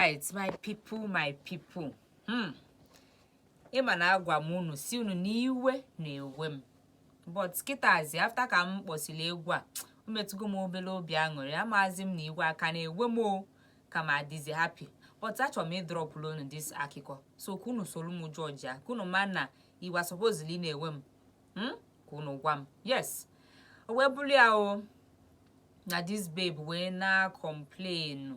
right my people my people hmm. ịma na agwa m unu si unu n'iwe na-ewe m but kịtazi after ka m kpọsiri egwu a o metụgo m obere obi aṅụrị amazi m na iwe a ka na-ewe m o ka m adịzi happy but achọrọ m ịdrọpụrụ unu this akụkọ so ka unu soro m judge ya ka unu ma na iwe sọpozili na-ewe m hmm? ka unu gwa m yes o wee bụrụ ya o na this babe wee na-akọmplenu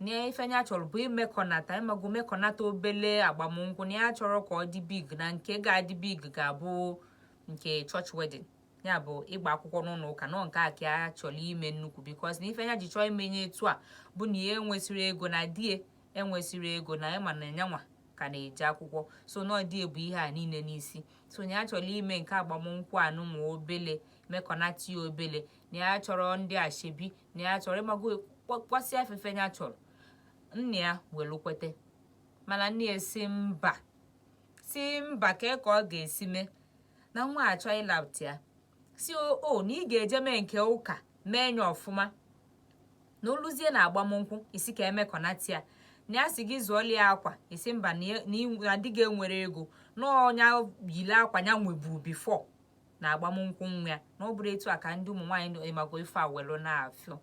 na ife nya chọrọ bụ imekọnata ịmago mekọnata obele agbamnkwụ na ya achọrọ ka ọ dị big na nke ga-adị big ga-abụ nke church wedding ya bụ ịgba akwụkwọ n'ụlọ ụka nọ nke a ka ya chọrọ ime nnukwu because na ife nya ji chọọ ime nya etu a bụ na ya enwesịrị ego na di ya enwesịrị ego na ịma na nyanwa ka na-eje akwụkwọ so na ọ di ya bu ihe a niile n'isi so na ya chọrọ ime nke agbamnkwụ anụnwa obele mekọnata ya obele na ya achọrọ ndị ashebi na ya achọrọ ịmago kwasị afe ife nya chọrọ nne ya welu kwete mana nne ya si mba si mba kee ka ọ ga-esi mee na nwa achọ ịlapụta ya si o na ị ga-eje mee nke ụka mee nya ọfụma na o luzie na agbamnkwụ ị si ka emekọnata ya na ya si gị zụọlụ ya akwa ị si mba na di gị enwere ego na ọ nya yile akwa ya nweburu before na agbamnkwụ nwa ya na ọ bụrọ etu a ka ndị ụmụ nwaanyị nọ ịmago ife a welu na-afịọ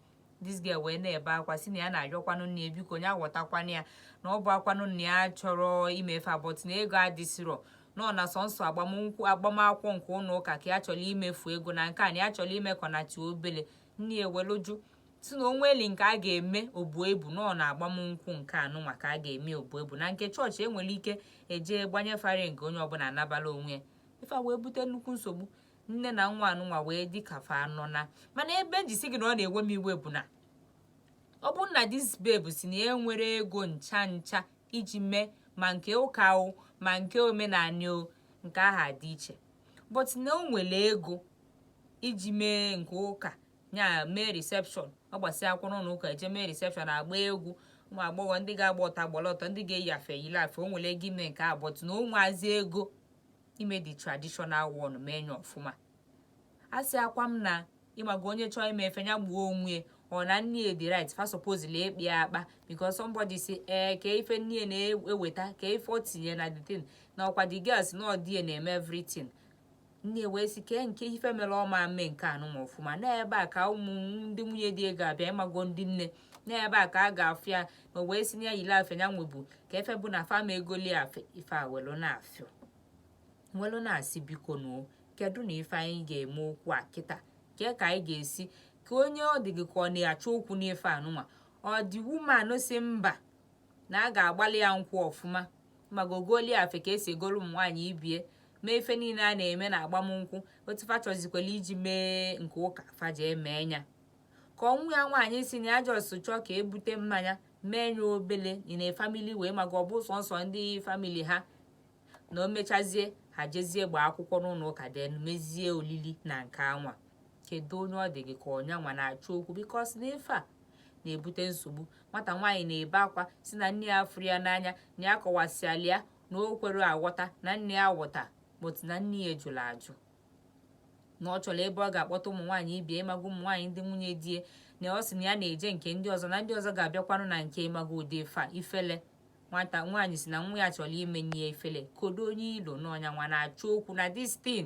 this girl wee na-ebe akwa si na ya na-ayọkwanụ nne ya biko nya ghọtakwanụ ya na ọ bụakwanụ na ya achọrọ ime ife a but na ego adịsirọ nọ na sọnsọ agbamnkwụ agbamakwụkwọ nke ụlọ ụka ka ya chọrọ imefu ego na nke a na ya chọrọ imekọnata obele nne ya ewelu jụ si na o nwelu nke a ga-eme o buo ibu nọ na agbamnkwụ nke anụnwa ka a ga-eme o buo ibu na nke church e nwere ike eje gbanye fa ring onye ọbụla anabala onwe ya ife a wee bute nnukwu nsogbu nne na nwa anụnwa wee dị ka fa anọ na mana ebe m ji si gị na ọ na-ewe m iwe bụ na ọ bụrụ na this babe si na ya enwere ego ncha ncha iji mee ma nke ụka o ma nke omenanị o nke aha dị iche but na o nwere ego iji mee nke ụka ya mee reception ọ gbasịa akwụkwọ ụlọ ụka eje mee reception agba egwu ụmụ agbọghọ ndị ga-agba ọtọ gbara ọtọ ndị ga-eyi afe yile afe o nwere ego ime nke a but na o nweazi ego ime the traditional one mee nya ọfụma asịakwa m na ịmago onye chọọ ime ife ya gbuo onwe or na nne ya dị right fa supposedly ịkpa ya akpa because somebody si ee eh, kee ife nne na-eweta kee ife o tinye na the thing na ọkwa the girl si na ọ di ya na-eme everything nne wee si kee nke ife mere ọ ma mee nke anụnwa ọfụma n'ebe a ka ụmụ ndị nwunye di ya ga-abịa ịmago ndị nne n'ebe a ka a ga-afụ ya ma wee si na ya yiri afe ya nwebu ka efe bụ na fa ma egoli afe ife a welu na-afịọ welu na-asị biko nuo kedu na ife anyị ga-eme okwu a kịta kee ka anyị ga-esi ka onye ọ dị gị ka ọ na-achọ okwu n'ife anụnwa ọ the woman si mba na a ga-agbalị ya nkwụ ọfụma ma gogolie afe ka esi egolu ụmụ nwaanyị ibe ya mee ife niile a na-eme na agbamnkwụ otu fa chọzikwela iji mee nke ụka fa eji mee nya ka nwa ya nwaanyị si na ya just chọọ ka e bute mmanya mee nya obele na family wee maka ọ bụ sọnsọ ndị family ha na o mechazie ha jezie gbaa akwụkwọ n'ụlọ ụka then mezie olili na nke anwa kedu onye ọ dị gị ka ọ nya nwa na-achọ okwu because n'ife a na-ebute nsogbu nwata nwaanyị na-ebe akwa si na nne ya fụrụ ya n'anya na ya kọwasịala ya na o kwere aghọta na nne ya ghọta but na nne ya jụrụ ajụ na ọ chọrọ ebe ọ ga-akpọta ụmụ nwaanyị ibe ya ịmago ụmụ nwaanyị ndị nwunye di ya na ọ sị na ya na-eje nke ndị ọzọ na ndị ọzọ ga-abịakwanụ na nke ịmago ọ dị fa ifele nwata nwaanyị si na nwa ya chọrọ imenye ifele kedu onye i lo na ọ nya nwa na-achọ okwu na this thing